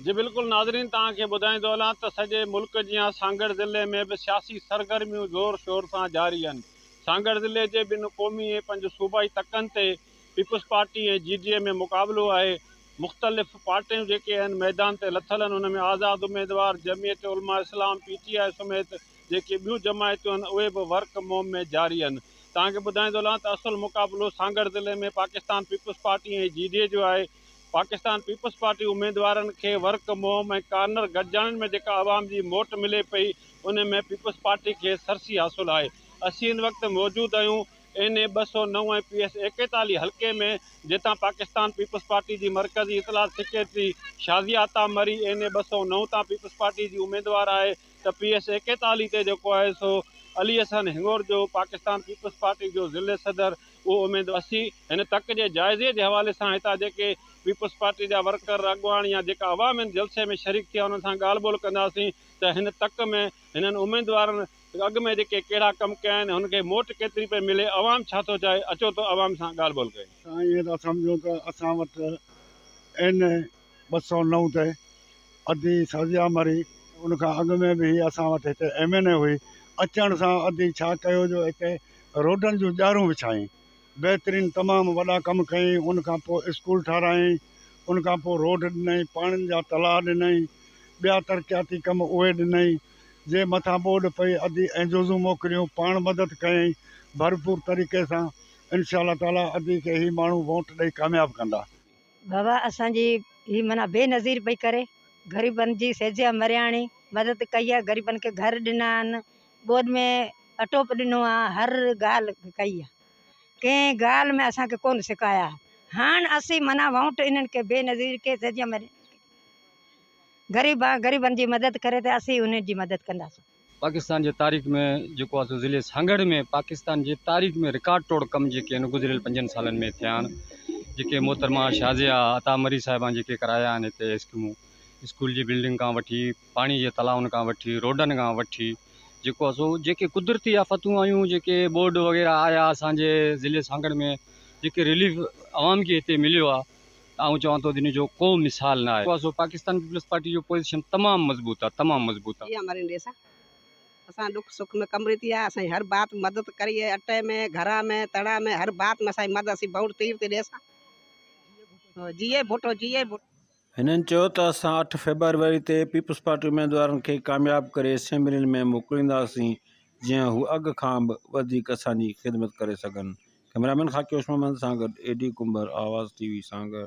جي بلڪل ناظرين توهان کي ٻڌائيندو هلان ته سڄي ملڪ جيان سانگهڙ ضلعي ۾ به سياسي سرگرميون زور شور سان جاري آهن سانگهڙ ضلعي جي ٻن قومي ۽ پنج صوبائي تڪن تي peoples party ۽ G D A ۾ مقابلو آهي مختلف پارٽيون جيڪي اهن ميدان تي لٿل اهن ان ۾ آزاد اميدوار جمعيت علماء اسلام پي ٽي آء سميت جيڪي ٻيون جماعتون اهن اهي به ورڪ موم ۾ جاري اهن توهان کي ٻڌائيندو هلان ته اصل مقابلو سانگهڙ ضلعي ۾ Pakistan peoples party ۽ G D A جو آهي پاڪستان پيپلز پارٽي اميدوارن کي ورڪ موم ۽ ڪارنر گڏجاڻين ۾ جيڪا عوام جي موٽ ملي پئي ان ۾ پيپلز پارٽي کي سرسي حاصل آهي اسين هن وقت موجود آهيون اين اي ٻه سؤ نو ۽ پي ايس ايڪيتاليهه حلقي ۾ جتان پاڪستان پيپلز پارٽي جي مرڪزي اطلاعات secretary Shazia Atta Marri N A ٻه سؤ نو تان پيپلز پارٽي جي اميدوار آهي ته پي ايس ايڪيتاليهه تي جيڪو آهي سو علي احسن هڱور جو پاڪستان پيپلز پارٽي جو ضلعي صدر اهو اميد وسي هن تڪ جي جائزي جي حوالي سان هتان جيڪي پيپلز پارٽي جا ورڪر اڳواڻ يا جيڪا عوام هن جلسي ۾ شريڪ ٿي انهن سان ڳالهه ٻولهه ڪنداسين ته هن تڪ ۾ هنن اميدوارن اڳ ۾ جيڪي ڪهڙا ڪم ڪيا آهن هن کي موٽ ڪيتري پئي ملي عوام ڇا ٿو چاهي اچو ته عوام سان ڳالهه ٻولهه ڪيون. اسان ائين ٿا سمجهون ته اسان وٽ اين. ٻه سؤ نو تي ادي سعديا مري ان کان اڳ ۾ به هي اسان وٽ هتي ايم اين اي هئي اچڻ سان ادي ڇا ڪيو جو هتي روڊن جون ڄارون وڇائين بهترين تمام وڏا ڪم ڪيائين ان کان پوء اسڪول ٺارايائين ان کان پوء روڊ ڏنائين پاڻين جا تلاء ڏنائين ٻيا ترقياتي ڪم اهي ڏنائين جي مٿان ٻوڏ پئي ادي ۽ جوزون موڪليون پاڻ مدد ڪيائين ڀرپور طريقي سان انشاء الله تعالي ادي کي هي ماڻهو ووٽ ڏئي ڪامياب ڪندا. بابا اسان جي هي معنيٰ بي نظير پئي ڪري غريبن جي سيجا مرياڻي مدد ڪئي آهي غريبن کي گهر ڏنا آهن ڳوڏ ۾ اٽو به ڏنو آهي هر ڳالهه ڪئي آهي ڪنهن ڳالهه ۾ اسان کي ڪونه سڪايا هاڻ اسين معنيٰ ووٽ انهن کي بي نظير کي سيجا مرياڻي غريبن جي مدد ڪري تي اسين انهن جي مدد ڪنداسين پاڪستان جي تاريخ ۾ جيڪو آهي سو ضلعي سانگهڙ ۾ پاڪستان جي تاريخ ۾ رڪارڊ ٽوڙ ڪم جيڪي آهن گذريل پنجن سالن ۾ ٿيا آهن جيڪي محترمه شازيا عطا مري صاحبان جيڪي ڪرايا آهن هتي اسڪيمون اسڪول جي بلڊنگ کان وٺي پاڻي جي تلائن کان وٺي روڊن کان وٺي جيڪو آهي سو جيڪي قدرتي آفتون آيون جيڪي ٻوڏ وغيره آيا اسانجي ضلعي سانگهڙ ۾ جيڪي رليف عوام کي هتي مليو آهي ته آئون چوان ٿو ته ان جو ڪو مثال نه آهي. سو پاڪستان پيپلز پارٽي جو پوزيشن تمام مضبوط آهي تمام مضبوط آهي. جي آمرين ڏي سان اسان ڏک سک ۾ ڪم ريتي آ اسان جي هر بات مدد ڪري اي اٽي ۾ گهرا ۾ تڙا ۾ هر بات ۾ اسان جي مدد اسين بئوٽ تير تي ڏي سان جيئي ڀٽو جيئي ڀٽو. هنن چيو ته اسان اٺ فيبروري تي پيپلز پارٽي اميدوارن کي ڪامياب ڪري اسيمبلين ۾ موڪلينداسين جيئن هو اڳ کان به وڌيڪ اسان جي خدمت ڪري سگهن ڪئميرا مين خاڪي هوش محمد سان گڏ اي ڊي ڪنڀر آواز ٽي وي سانگهڙ.